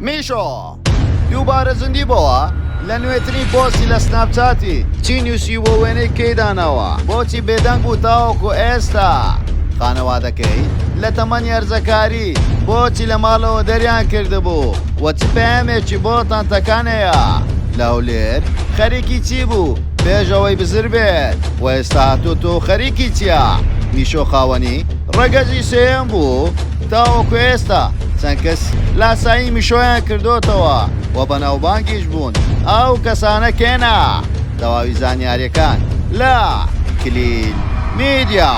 میشۆ دووبارە زیندی بۆوە لە نوێترین پۆستی لە سناپچاتی چی نووسی بۆ وێنەی کەیدانەوە بۆچی بێدەنگ بوو تاوەکو ئێستا خانەوادەکەی لە تەمەن یارزەکاری بۆچی لە ماڵەوە دەریان کردبوو وە چ پەیامێکی بۆ تانتەکانەیە لە هەولێر خەریکی چی بوو پێشەوەی بزر بێت و ئێستا هاتۆ تۆ خەریکی چییە میشۆ خاوەنی ڕەگەزی سێم بوو تاوەکو ئێستا چەند کەس لاسایی میشۆیان کردۆتەوە و بەناوبانگیش بوون ئەو کەسانە کێنە تەواوی زانیاریەکان لە کلیل میدیا.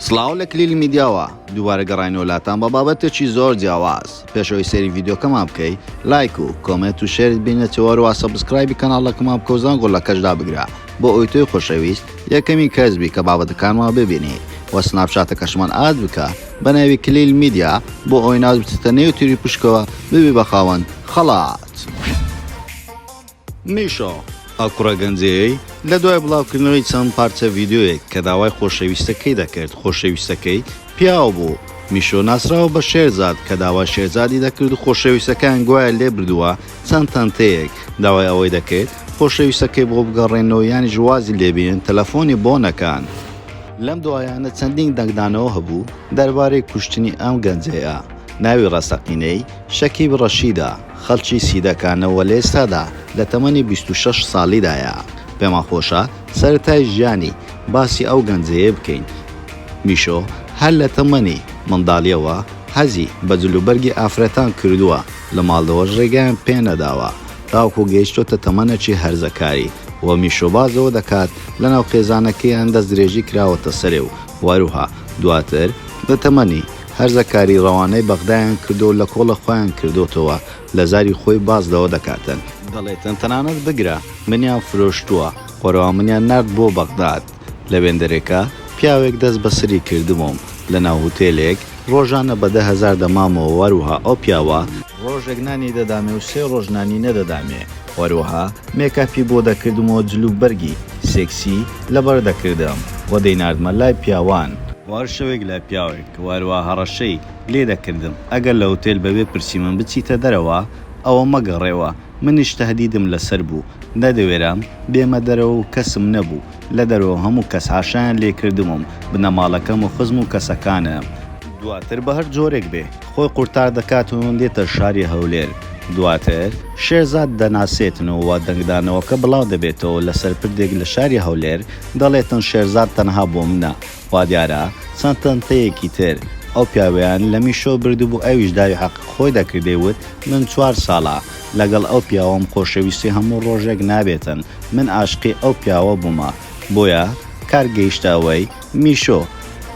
سڵاو لە کلیل میدیاوە دووبارە گەڕاینەوە لاتان بە بابەتێکی زۆر جیاواز پێش ئەوەی سەیری ڤیدیۆکەمان بکەی لایک و کۆمێنت و شێرت بینێتەوە هەروە سەبسکرایبی کەناڵەکەمان بکە و زەنگۆڵەکەش دابگرە بۆ ئەوەی تۆی خۆشەویست یەکەمین کەس بی کە بابەتەکانمان ببینی و سناپچاتەکەشمان ئاد بکە بە ناوی کلیل میدیا بۆ ئەوەی ناز بچێتە نێو تیری پشکەوە ببی بە خاوەن خەڵات. میشۆ، ئەو کوڕە گەنجەیەی لە دوای بڵاوکردنەوەی چەند پارچە ڤیدیۆیەک کە داوای خۆشەویستەکەی دەکرد، خۆشەویستەکەی پیاو بوو. میشۆ ناسراوە بە شێرزاد کە داوای شێرزادی دەکرد و خۆشەویستەکەیان گوایە لێبردووە چەند تەنتەیەک، داوای ئەوەی دەکرد خۆشەویستەکەی بۆ بگەڕێننەوە یانیش وازی لێبێنن تەلەفۆنی بۆ نەکەن. لەم دوایانە چەندین دەنگدانەوە هەبوو دەربارەی کوشتنی ئەم گەنجەیە ناوی ڕاستەقینەی، شەکیب ڕەشیدە. خەڵکی سیدەکانە و لە ئێستادا لە تەمەنی بیست و شەش ساڵیدایە. پێمان خۆشە سەرەتای ژیانی باسی ئەو گەنجەیە بکەین. میشۆ هەر لە تەمەنی منداڵییەوە حەزی بە جلوبەرگی ئافرەتان کردووە، لە ماڵەوەش رێگەیان پێ نەداوە، تاوەکو گەیشتۆتە تەمەنێکی هەرزەکاری و میشۆبازەوە دەکات، لەناو خێزانەکەیان دەستدرێژی کراوەتە سەری و هەروەها دواتر لە تەمەنی هەرزەکاری ڕەوانەی بەغدایان کردووە و لە کۆڵە خۆیان کردۆتەوە، لە زاری خۆی باس لەوە دەکاتن، دەڵێتن تەنانەت بگرە منیان فرۆشتووە، خۆرەوان منیان نارد بۆ بەغداد، لە وێندەرێکا پیاوێک دەست بە سری کردبووم، لە ناو هوتێلێک ڕۆژانە بە دە هەزار دەمامەوە وەروها ئەو پیاوە، ڕۆژێک نانی دەدامێ و سێ ڕۆژ نانی نەدەدامێ. هەروەها مێکاپی بۆ دەکردم و جل و بەرگی سێکسی لەبەر دەکردم و دەیناردمە لای پیاوان. بۆ هەر شەوێک لای پیاوێک و هەروەها هەڕەشەی لێ دەکردم ئەگەر لە هوتێل بەبێ پرسی من بچیتە دەرەوە ئەوە مەگەڕێوە، منیش تەهدیدم لەسەر بوو نەدەوێرام بێمە دەرەوە و کەسم نەبوو لە دەرەوە هەموو کەس حاشایان لێ کردبووم بنەماڵەکەم و خزم و کەسەکانم. دواتر بە هەر جۆرێک بێ خۆی قورتار دەکات و دێتە شاری هەولێر، دواتر شێرزاد دەناسێتن و دەنگدانەوەکە بڵاو دەبێتەوە لەسەر پردێک لە شاری هەولێر، دەڵێتن شێرزاد تەنها بۆ منە، وادیارە چەند تەنتەیەکی تر ئەو پیاوەیان لە میشۆ بردبوو ئەویش داوی حەقی خۆی دەکرد دەیوت من چوار ساڵە لەگەڵ ئەو پیاوەم خۆشەویستی هەموو ڕۆژێک نابێتن من ئاشقی ئەو پیاوە بوومە بۆیە کار گەیشتە ئەوەی میشۆ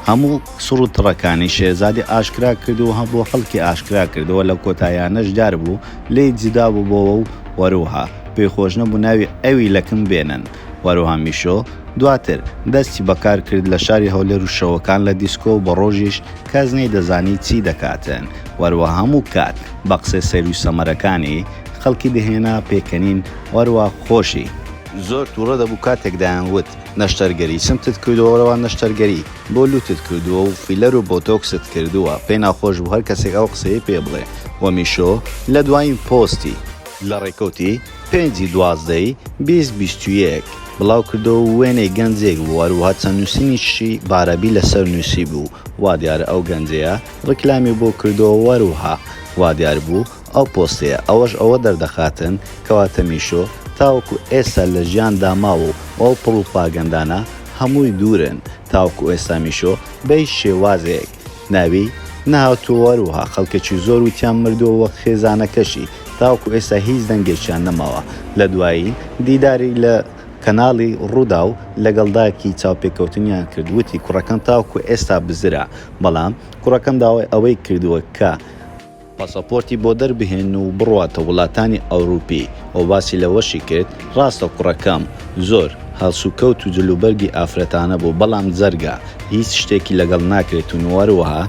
هەموو سڕ و تڕەکانی شێرزادی ئاشکرا کرد و بۆ خەڵکی ئاشکرا کردەوە، لە کۆتاییانەش دیار بوو لێی جودا ببۆوە و هەروەها پێی خۆش نەبوو ناوی ئەوی لە کن بێنن. هەروەها میشۆ دواتر دەستی بە کار کرد لە شاری هەولێر و شەوەکان لە دیسکۆ و بە ڕۆژیش کەس نەیدەزانی چی دەکاتن هەروەها هەموو کات بە قسەی سەیر و سەمەرەکانی خەڵکی دەهێنا پێکەنین و هەروەها خۆشی زۆر توڕە دەبوو کاتێک دەیان وت. نەشتەرگەری چمتت کردووە رەوا نەشتەرگەری بۆ لوتت کردووە و فیلەر و بۆتۆکست کردووە پێ ناخۆش بوو هەر کەسێک ئەو قسەی پێ بڵێ وە میشۆ لە دواین پۆستی لە رێکەوتی پێنجی دوازدەی بیست بیست و یەک بڵاو کردەوە و وێنەی گەنجێک بوو هەروەها چەند نوسینیکی بارەبی لەسەر نوسیبوو وادیارە ئەو گەنجەیە ریکلامی بۆ کردووە وەروها وادیار بوو ئەو پۆستەیە ئەوەش ئەوە دەردەخاتن کەوا تەمیشۆ تاوەکو ئێستا لە ژیان دا ماوە و ئەو پڕوپاگەندانە هەمووی دوورن تاوەکو ئێستا میشۆ بە هیچ شێوازێک ناوی نەهاتووەهەروەها خەڵکەکی زۆر وتیان مردووە وەک خێزانەکەشی تاوەکو ئێستا هیچ دەنگێکیان نەماوە لە دوایین دیداری لە کەناڵی ڕووداو لەگەڵ دایکی چاوپێکەوتنیان کرد وتی کوڕەکەم تاوەکو ئێستا بزرە بەڵام کوڕەکەم داوای ئەوەی کردووە کە پاسەپۆرتی بۆ دەربهێن و بڕواتە وڵاتانی ئەوروپی و باسی لەوەشی کرد، ڕاستە کوڕەکەم زۆر هەڵسوکەوت و جلوبەرگی ئافرەتانە بوو، بەڵام جەرگە هیچ شتێکی لەگەڵ ناکرێت و هەروەها،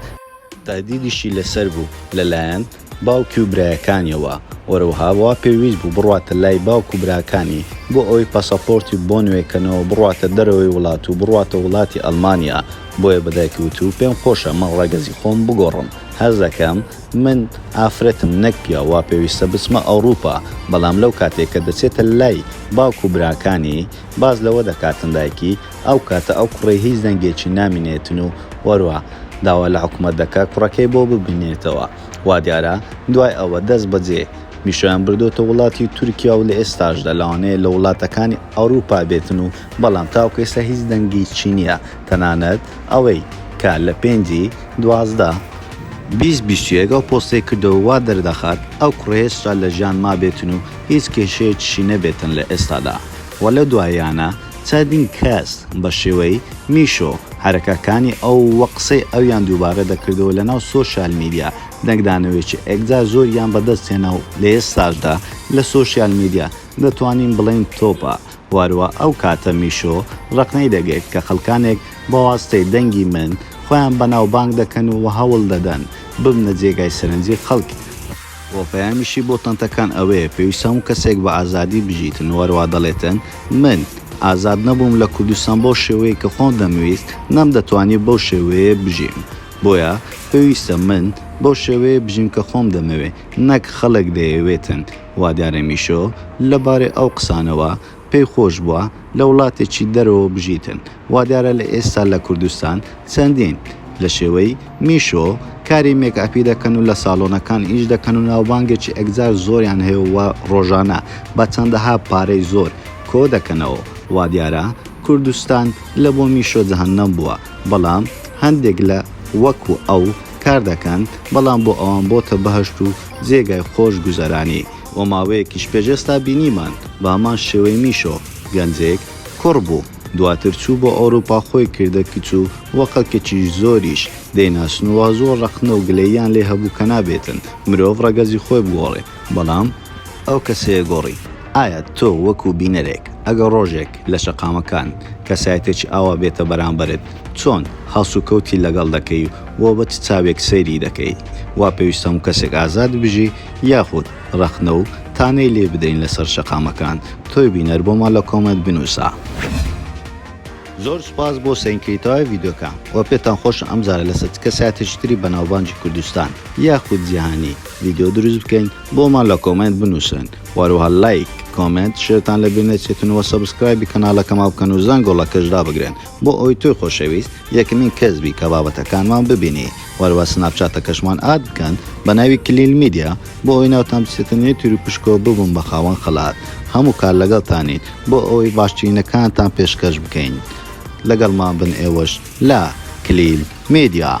تەهدیدیشی لەسەر بوو لەلایەن باوکی و برایەکانیەوە، هەروەها وا پێویست بوو بڕواتە لای باوک و براکانی بۆ ئەوەی پاسەپۆرتی بۆ نوێکەنەوە بڕواتە دەرەوەی وڵات و بڕواتە وڵاتی ئەڵمانیا، بۆیە بە دایکی وتبوو پێمخۆشە من ڕەگەزی خۆم بگۆڕم. هەستدەکەم من ئافرەتم نەک پیاو وا پێویستە بچمە ئەوڕوپا بەڵام لەو کاتەی کە دەچێتە لای باوک و براکانی باس لەوە دەکاتن دایکی ئەو کاتە ئەو کوڕەی هیچ دەنگێکی نامینێتن و وەروا داوا لە حکومەت دەکات کوڕەکەی بۆ ببینێتەوە وادیارە دوای ئەوە دەست بەجێ میشۆیان بردۆتە وڵاتی تورکیا و لە ئێستاشدا لەوانەیە لە وڵاتەکانی ئەوڕوپا بێتن و بەڵام تاوەکو ئێستا هیچ دەنگێکی نیە تەنانەت ئەوەی کە لە پێنجی دوازدە بیست بیستویەک ئەو پۆستەی کردەوە وا دەردەخات ئەو کوڕە هێشتا لە ژیان مابێتن و هیچ کێشەیەکیشی نەبێتن لە ئێستادا و لەو دواییانە چەندین کەس بە شێوەی میشۆ حەرەکەکانی ئەو و قسەی ئەویان دووبارە دەکردەوە لە ناو سۆشیال میدیا دەنگدانەوەیەکی ئێکجار زۆریان بەدەست هێنا و لە ئێستاشدا لە سۆشیال میدیا دەتوانین بڵێین تۆپە واروا ئەو کاتە میشۆ ڕەقنەی دەگرت کە خەڵکانێک بە واستەی دەنگی من خۆیان بەناوبانگ دەکەن و هەوڵ دەدەن ببنە جێگای سەرنجی خەڵک. وە پەیامیشی بۆ تەنتەکان ئەوەیە پێویستە هەموو کەسێک بە ئازادی بژیتن واروا دەڵێتن من ئازاد نەبووم لە کوردستان بەو شێوەیەی کە خۆم دەمویست نەمدەتوانی بەو شێوەیە بژیم بۆیە پێویستە من بەو شێوەیە بژیم کە خۆم دەمەوێ نەک خەڵک دەیەوێتن وا دیارە میشۆ لە بارەی ئەو قسانەوە پێی خۆش بووە لە وڵاتێکی دەرەوە بژیتن، وا دیارە لە ئێستا لە کوردستان چەندین لە شێوەی میشۆ کاری مێکئەپی دەکەن و لە ساڵۆنەکان ئیش دەکەن و ناوبانگێکی ئەکجار زۆریان هەیە و ڕۆژانە بە چەندەها پارەی زۆر کۆ دەکەنەوە، وا دیارە کوردستان لە بۆ میشۆ جەهەنەم بووە، بەڵام هەندێک لە وەکو ئەو کار دەکەن، بەڵام بۆ ئەوان بۆتە بەهەشت و جێگای خۆش گوزەرانی و ماوەیەکیش پێش ئێستا بینیمان بە هەمان شێوەی میشۆ، گەنجێک کوڕ بوو دواتر چوو بۆ ئەوروپا خۆی کردە کچ و وە قەکەکی زۆریش دەیناسن و وا زۆر ڕەخنە و گلەییان لێ هەبوو کە نابێتن مرۆڤ ڕەگەزی خۆی بگۆڕێ بەڵام ئەو کەسەیە گۆڕی. ئایا تۆ وەکو بینەرێک ئەگەر ڕۆژێک لە شەقامەکان کەسایەتێکی ئاوا بێتە بەرامبەرت چۆن هەڵسوکەوتی لەگەڵ دەکەی و بە چ چاوێک سەیری دەکەی؟ وا پێویستە هەموو کەسێک ئازاد بژی یاخود ڕەخنە و تانەی لێ بدەین لەسەر شەقامەکان؟ تۆی بینەر بۆمان لە کۆمێنت بنووسە. زۆر سوپاس بۆ سەینکەری تەواوی ڤیدیۆکە وە پێتان خۆشە ئەمجارە لەسەر چ کەسایەتێکی تری بەناوبانگی کوردستان یاخود جیهانی ڤیدیۆ دروست بکەین؟ بۆمان لە کۆمێنت بنوسن وەروەها لایک کۆمێنت شێرتان لە بیر نەچێتن وە سەبسکرایبی کەنالەکەما بکەن و زەنگۆ ڵەکەش دابگرن بۆ ئەوەی تۆی خۆشەویست یەکمین کەس بی کە بابەتەکانمان ببینی وەروەها سناپچاتەکەشمان ئاد بکەن بە ناوی کلیل میدیا بۆ ئەوەی ناوتان بچێتە نێو تیر و پشکۆ ببن بە خاوەن خەلات هەموو کات لەگەڵتانین بۆ ئەوەی باشترینەکانتان پێشکەش بکەین لەگەڵمان بن ئێوەش لە، کلیل میدیا.